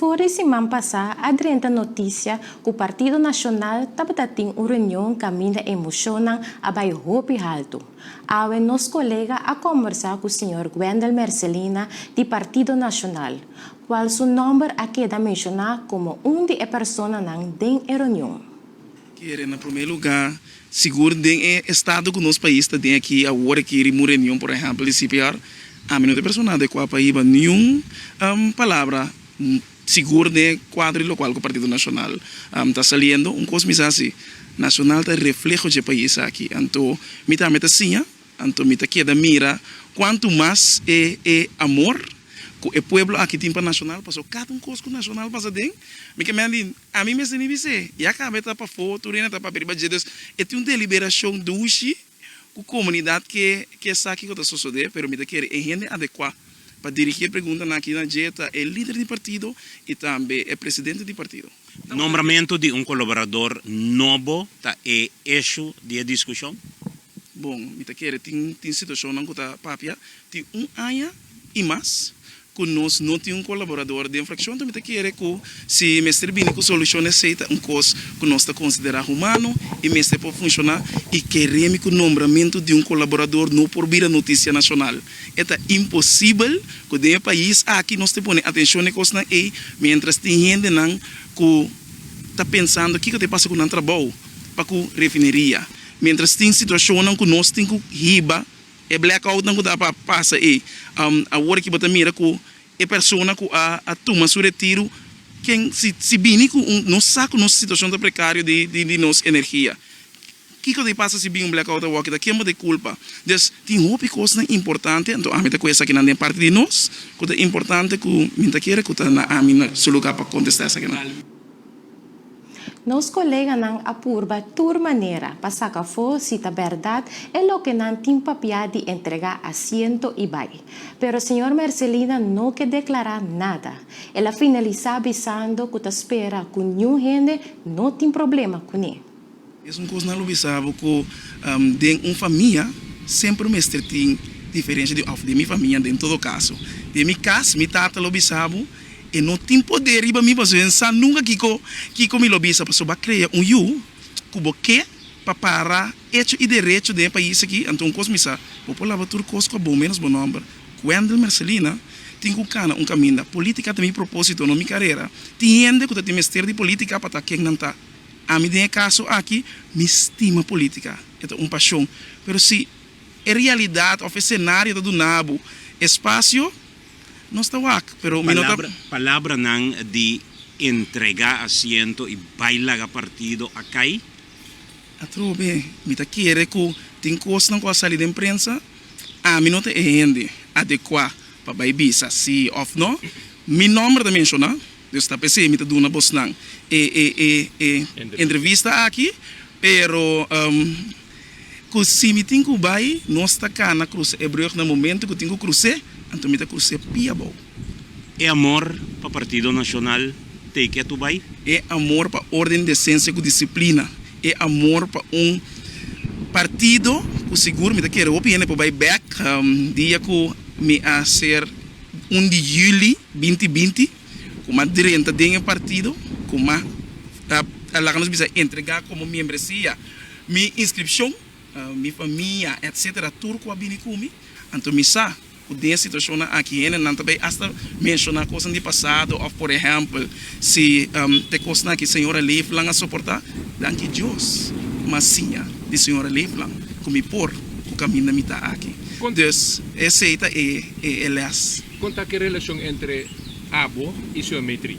For di siman pasá a drenta notisia ku Partido Nashonal tabata tin un reunion kaminda emoshonnan a bai hopi haltu. Awe nos kolega a kombersá ku señor Gwendel Mercelina di Partido Nashonal, kual su nòmber a keda menshoná komo un di e personanan den e reunion. Kere na promé lugá sigur den e estado ku nos pais ta den aki awor aki ri un reunion por ehèmpel di CPR ami no ta e persona adekuá pa hiba niun palabra sigur den e kuadro di lokual ku Partido Nashonal ta saliendo. Un kos mi sa si Nashonal ta refleho dje pais aki anto mi tambe ta siña anto mi ta keda mira kuantu mas e e amor ku e pueblo aki tin pa Nashonal pasobra kada un kos ku Nashonal pasa den mi ke mende A mi mester nibi sey, ya kaba e ta pa for tur ena ta papia riba dje dos e tin un deliberashon dushi ku komunidat ke ke esaki ku ta sosode pero mi ta kere e hende adekua pa dirigi e preguntanan aki na dje ta e lider di partido i tambe e presidente di partido. Nombramentu di un koloborador nobo ta e eshu di e diskushon. Bon, mi ta kere tin tin situacionnan cu ta papia tin un aña y mas cu nos no tin un colaborador den fraccion, enton mi ta kere cu si mester bini cu solucion esey ta un cos cu nos ta considera humano y mester por funciona y keremi cu nombramento di un colaborador no por bira noticia nacional. E ta imposibel cu den e pais aki nos te pone atencion na e cosnan ey mientras tin hendenan cu ta pensando kico ta e pasa cu nan trabao pa cu refineria Mientras tin situacionnan cu nos tin cu hiba e blackoutnan cu ta pa pasa ey. Awor aki bo ta mira cu e persona cu a tuma su retiro ken si bini cu un nos sa cu nos situacion ta precario di nos energia. Kico ta pasa si bin un blackout awor kita ken bo ta culpa. Des tin hopi cosnan importante anto ami ta cu esakinan den parti di nos cu ta importante cu mi ta kere cu ta na ami su lugar pa contesta esakinan. Nos koleganan a purba tur manera pa saca afo si ta berdad e loke nan tin papia di entrega asiento y bai. Pero señor Mercelina no ke declara nada. El a finalisa bisando cu ta spera cu niun hende no tin problema cune. Mesun kos nan lo bisa bo ku den un famia semper mester tin diferensha di òf den mi famia den todo kaso den mi kas mi tata lo bisa bo e no tin poder riba mi pasobra e sa nunka kiko kiko mi lo bisa pasobra bo a krea un yu ku bo ke pa para echo i derecho den e pais aki anto un kos mi sa bo por laba tur kos ku a bon menos bo nòmber Wendel Mercelina tin ku kana un kaminda politika ta mi proposito no mi karera tin hende ku ta tin mester di politika pa ta ken nan ta. Ami den e kaso aki mi stima politica, e ta un pasion, pero si e realidad of e scenario ta duna bo espacio, nos ta wak, pero mi no ta. Palabranan di entrega asiento y bay laga partido a cay? Atrobe, mi ta kere cu tin cosnan cu a sali den prensa, ami no ta e hende adecua pa bay bisa si of no, mi nomber ta menciona. Nos ta p'esei mi ta duna bos nan e e e e entrevista aki, pero ku si mi tin ku bai nos ta kana krusa e brug na momento ku tin ku krus'é, anto mi ta krus'é pi abou. E amor pa Partido Nashonal t'ei k'é tu bai? E amor pa orden, desensia ku disiplina, e amor pa un partido ku sigur mi ta kere hopi hende por bai bèk dia ku mi a ser. un di juli binti binti ku mas drenta den e partido ku mas ta ta laga nos bisa entregá komo membresia mi inskripshon mi famia etsetera tur ku a bini ku mi anto mi sa ku den e situashonnan aki hendenan ta bai asta menshoná kosanan di pasado òf por ehèmpel Si te kosnan aki señora Leefland a soportá, danki Dios mas siña di señora Leefland ku mi por ku kaminda mi ta aki. Dus esei ta e lès. Kon ta ki relashon entre abo i señor Meitrie?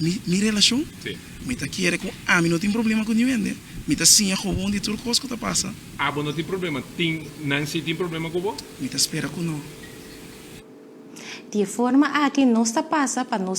Mi relashon? Sí. Mi ta kere ku ami no tin problema ku ninhende. Mi ta siña kobon di tur kos ku ta pasa. Abo no tin problema. Tin nan si tin problema ku bo? Mi ta spera ku no. Di e forma aki nos ta pasa pa nos.